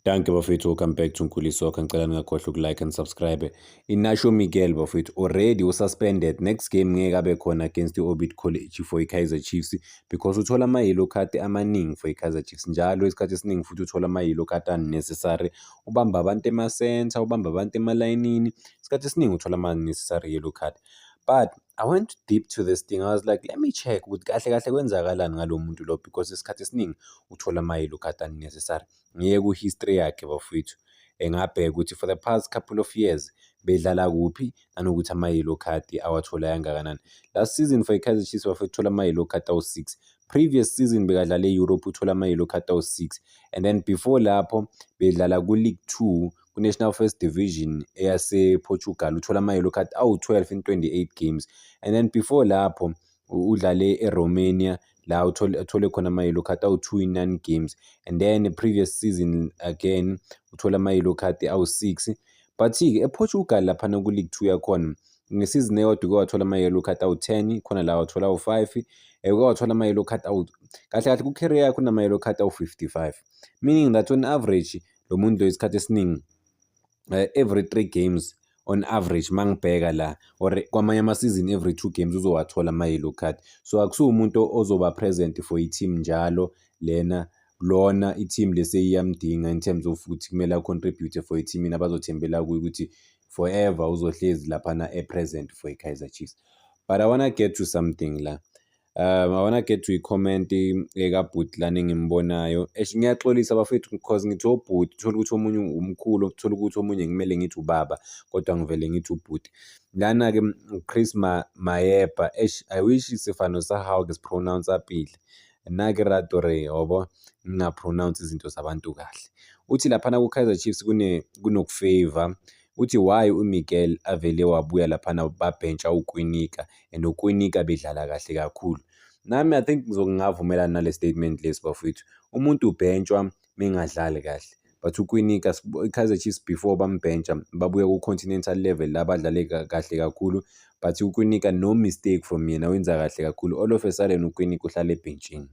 Danke bafethu welcome back to Nkuli Soccer ngicela ningakhohlwa ukulike and subscribe Inasho Miguel bafethu already ususpended next game ngeke abe khona against i-Orbit College for i-Kaizer Chiefs because uthola ama-yellow card amaningi for i-Kaizer Chiefs njalo isikhathi esiningi futhi uthola ama-yellow card unnecessary ubamba abantu ema-center ubamba abantu emalayinini isikhathi esiningi uthola ama-necessary yellow card but I went deep to this thing. I was like, let me check ukuthi kahle kahle kwenzakalani ngalo muntu lo because isikhathi esiningi uthola ama-yellow card unnecessary. ngiye ku-history yakhe bafowethu engabheka ukuthi for the past couple of years bedlala kuphi nanokuthi ama-yellow card awathola yangakanani last season for ikaizer chiefs bafowethu uthola ama-yellow card awu-six previous season bekadlala e-europe uthola ama-yellow card awu-six and then before lapho bedlala ku-league two kwi-National First Division eyasePortugal uthola ama-yellow card awu-12 in 28 games and then before lapho udlale eRomania la uthole uthole khona ama yellow card awu2 in 9 games and then previous season again uthola ama yellow card awu6 but ke ePortugal lapha na ku League 2 yakhona ngesizini eyodwa uke wathola ama yellow card awu10 khona la wathola awu5 eh, uke wathola ama yellow card awu kahle kahle ku career yakho nama yellow card awu55 meaning that on average lo muntu lo isikhathi esiningi eh, every three games on average mangibheka la or kwamanye ama-season every two games uzowathola ama-yellow card so akusiwo umuntu ozoba present for i-team njalo lena lona i-team lese iyamdinga in terms of ukuthi kumele a-contribute for i-teamini abazothembela kuyo ukuthi forever uzohlezi laphana e-present for i-kaizer chiefs but i wanna get to something la Um, I wanna get to i-comment ekabhuti lana engimbonayo. Eish, ngiyaxolisa bafethu because ngithi obhuti, uthole ukuthi omunye umkhulu, uthole ukuthi omunye ngimele ngithi ubaba, kodwa ngivele ngithi ubhuti. Lana-ke uChris Ma- Mayepa, eish, I wish isifano sahawu-ke sipronounce-a pile. Nake rato re, yabo, ngingapronounce izinto zabantu kahle. Uthi laphana ku-Kaizer Chiefs kune kunokufeyva, Uthi why uMiguel avele wabuya laphana babhentsha uKwinika and uKwinika bedlala kahle kakhulu. Nami I think ngizokungavumelana nale statement lesi bafowethu. Umuntu ubhentshwa mengadlali kahle. But uKwinika iKaizer Chiefs before bambhentsha babuya ku-continental level la badlale kahle kakhulu but uKwinika no mistake from yena wenza kahle kakhulu. All of a sudden uKwinika uhlale ebhentshini.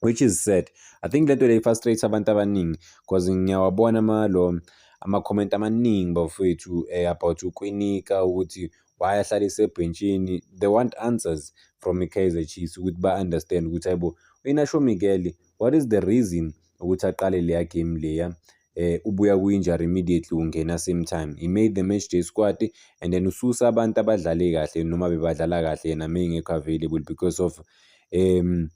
which is sad i think lento le frustrates abantu abaningi because ngiyawabona ama lo ama comment amaningi bafowethu eh, about ukwinika ukuthi why ahlale isebhentshini they want answers from iKaizer Chiefs ukuthi ba understand ukuthi hayibo uyinasho Miguel what is the reason ukuthi aqale leya game leya eh ubuya kwi-injury immediately ungena same time he made the match day squad and then ususa abantu abadlale kahle noma bebadlala kahle yena mengekho available because of um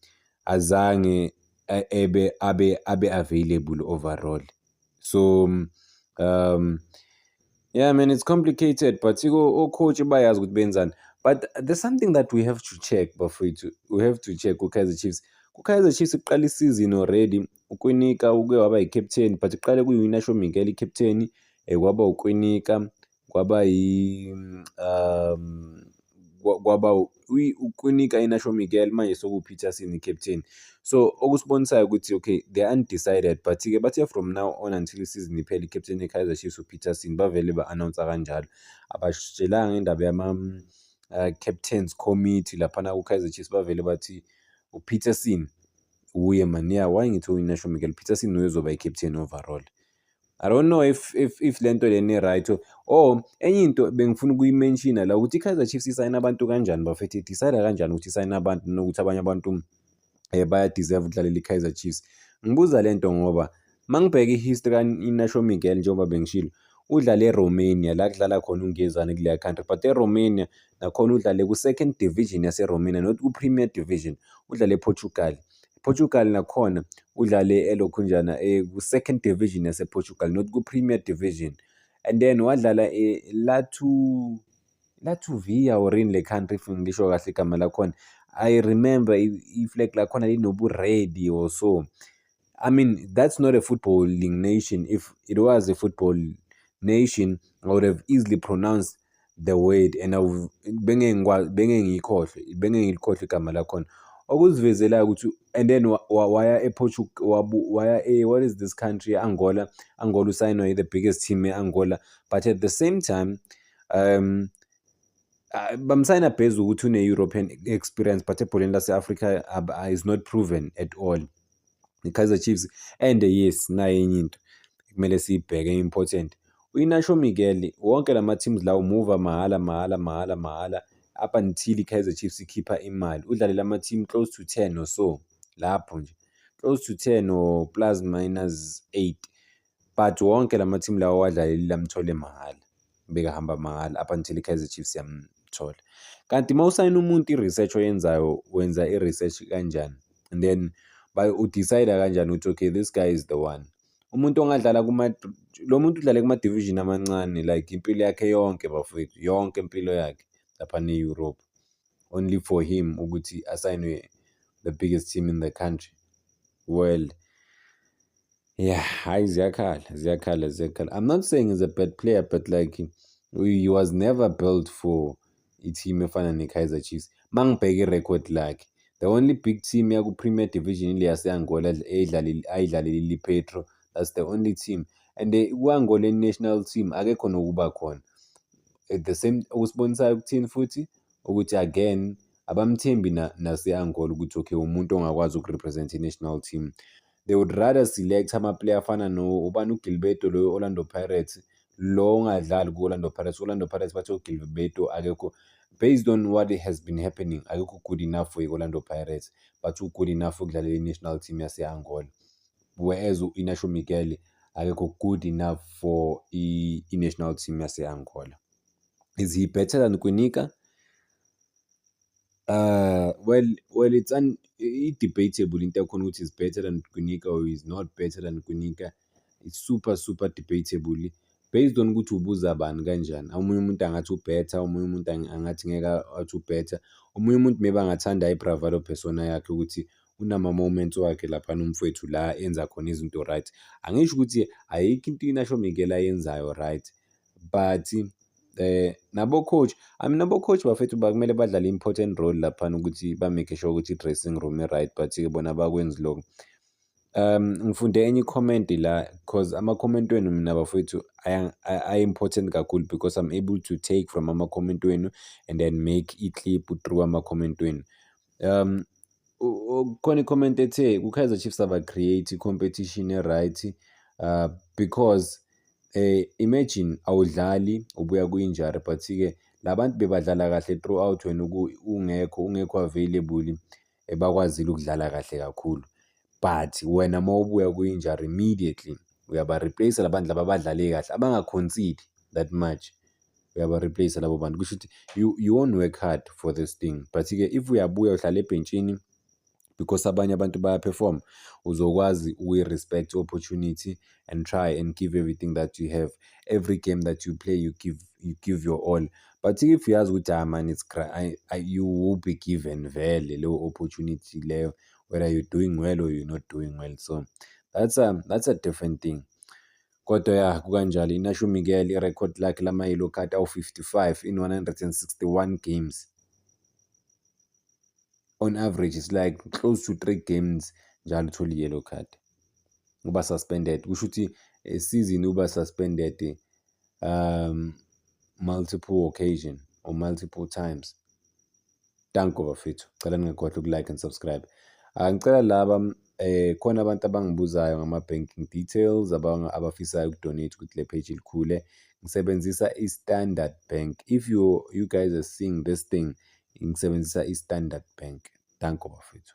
azange eh, ebe abe abe available overall so um Yeah man it's complicated but ocoach bayazi ukuthi benzani but there's something that we have to check bafowethu we have to check ku-kaizer chiefs ku-kaizer chiefs kuqala isizini already ukwinika uke waba yi-captain but kuqale kuyi-winasho mingel i-captain um eh, kwaba ukwinika kwaba yi um kwaba uKwinika Inasho Miguel manje sekuwuPeterson i-captain so okusibonisayo ukuthi okay they are undecided but-ke bathe from now on until isizini iphele i-captain ye-Kaizer Chiefs uPeterson bavele ba-announce kanjalo abasitshelanga indaba yama-captains uh, committee laphana ku-Kaizer Chiefs bavele bathi uPeterson wuye mani ya why ngithi uyinasho Miguel Peterson uyozoba i-captain overall I don't know if if if lento leni right oh enye into bengifuna ukuyimenshina la ukuthi iKaizer Chiefs isayina abantu kanjani bafethu idecide kanjani ukuthi isayina abantu nokuthi abanye abantu eh baya deserve ukudlalela iKaizer Chiefs ngibuza lento ngoba mangibheka ihistory kaNasho Miguel njengoba bengishilo udlale eRomania la kudlala khona uNgezane kuleya country but eRomania nakhona udlale ku-second division yaseRomania not ku-premier division udlale ePortugal Portugal nakhona udlale elokhunjana eh, ku-second division yaseportugal not ku-premier division and then wadlala eh, latu latvia or in le country if ngisho kahle igama lakhona i remember i-flag lakhona linoburedi or so i mean that's not a footballing nation if it was a football nation i would have easily pronounced the word and bengeke ngikwazi bengeke ngiyikhohlwe bengeke ngilikhohlwe igama lakhona okuzivezelayo ukuthi and then waya ePortugal waya e what is this country Angola Angola usayinwa yi the biggest team eAngola but at the same time um uh, bamsayina bhezi ukuthi une-european experience but ebholeni lase-afrika is not proven at all i-Kaizer Chiefs and yes nayo enye into kumele siyibheke important uInasho Miguel wonke lama teams lawo move mahhala mahhala mahhala mahhala up until iKaizer Chiefs ikhipha imali udlalela ama team close to 10 or so lapho nje close to 10 or plus minus 8 but wonke lama team lawo wadlaleli lamthole mahhala bekahamba mahhala up until iKaizer Chiefs yamthola kanti uma usayina umuntu i-research oyenzayo wenza i-research kanjani and then udecide kanjani ukuthi okay this guy is the one umuntu ongadlala kuma lo muntu udlale kuma-division amancane like impilo yakhe yonke bafowethu yonke impilo yakhe lapha ne-europe only for him ukuthi asayinwe the biggest team in the country world Yeah, hayi ziyakhala, ziyakhala, ziyakhala. I'm not saying he's a bad player, but like he was never built for i-team efana ne-Kaizer Chiefs. Uma ngibheka i-record lakhe, the only big team yaku-Premier Division ile yase-Angola eyidlalile ayidlalele i-Lipetro. That's the only team. And eh, ku-Angola national team akekho nokuba khona. At the same okusibonisayo ukuthini futhi ukuthi again abamthembi na- nase-Angola ukuthi okay umuntu ongakwazi ukurepresent i-national team. they would rather select amaplayer afana no ubani ugilberto loyo orlando pirates lo ungadlali ku-orlando pirates orlando pirates bathe ugilberto akekho based on what has been happening akekho good enough for i-orlando pirates but u-good enough ukudlalela i-national team yase-angola whereas u-inasho miguel akekho good enough for i-national team yase-angola is he better than kwinika Well, well it's an i-debatable into yakhona ukuthi is better than Gwinika or is not better than Gwinika. It's super super debatable based on ukuthi ubuza bani kanjani. Omunye umuntu angathi u-better, omunye umuntu angathi ngeke athi u-better. Omunye umuntu maybe angathanda i-bravado persona yakhe ukuthi unama-moments wakhe laphana umfwethu la enza khona izinto right. Angisho ukuthi ayikho into i-Nashomikela ayenzayo right but eh nabo coach I mean nabo coach bafethu bakumele badlale important role laphana ukuthi ba make sure ukuthi dressing room i right but ke bona bakwenzi lokho um ngifunde enye comment la because ama comment wenu mina bafethu i important kakhulu because i'm able to take from ama comment wenu and then make i clip through ama comment wenu um khona i-comment ethe ku-kaizer chiefs aba-create i-competition e-right uh, because um imagine awudlali ubuya kwi-injury but-ke la bantu bebadlala kahle throughout wena ungekho ungekho available eh, bakwazile ukudlala kahle kakhulu but wena uma ubuya kwi-injury immediately uyaba-replace la bantu laba abadlale kahle abangakhonsidi that much uyabareplace labo bantu kusho ukuthi you, you won't work hard for this thing but-ke if uyabuya uhlala ebhentshini because abanye abantu bayaperform uzokwazi ukuyi-respect opportunity and try and give everything that you have every game that you play you give, you give your all but if uyazi ukuthi ah man it's I, I, you will be given vele leyo opportunity leyo whether you're doing well or you're not doing well so that's a, um, that's a different thing Kodwa ya kukanjalo inasho uMiguel irekhodi lakhe lama-yellow card awu-55 in 161 games. On average it's like close to 3 games njalo uthole i-yellow card. Uba suspended kusho ukuthi esizini uba suspended um multiple occasion or multiple times. Danko bafethu. Cela ningakhohlwa uku-like and subscribe. Ah, ngicela laba eh khona abantu abangibuzayo ngama-banking details abafisayo uku-donate ukuthi le page ilikhule. Ngisebenzisa i-Standard Bank. If you you guys are seeing this thing, ngisebenzisa i-Standard Bank. Danko bafethu.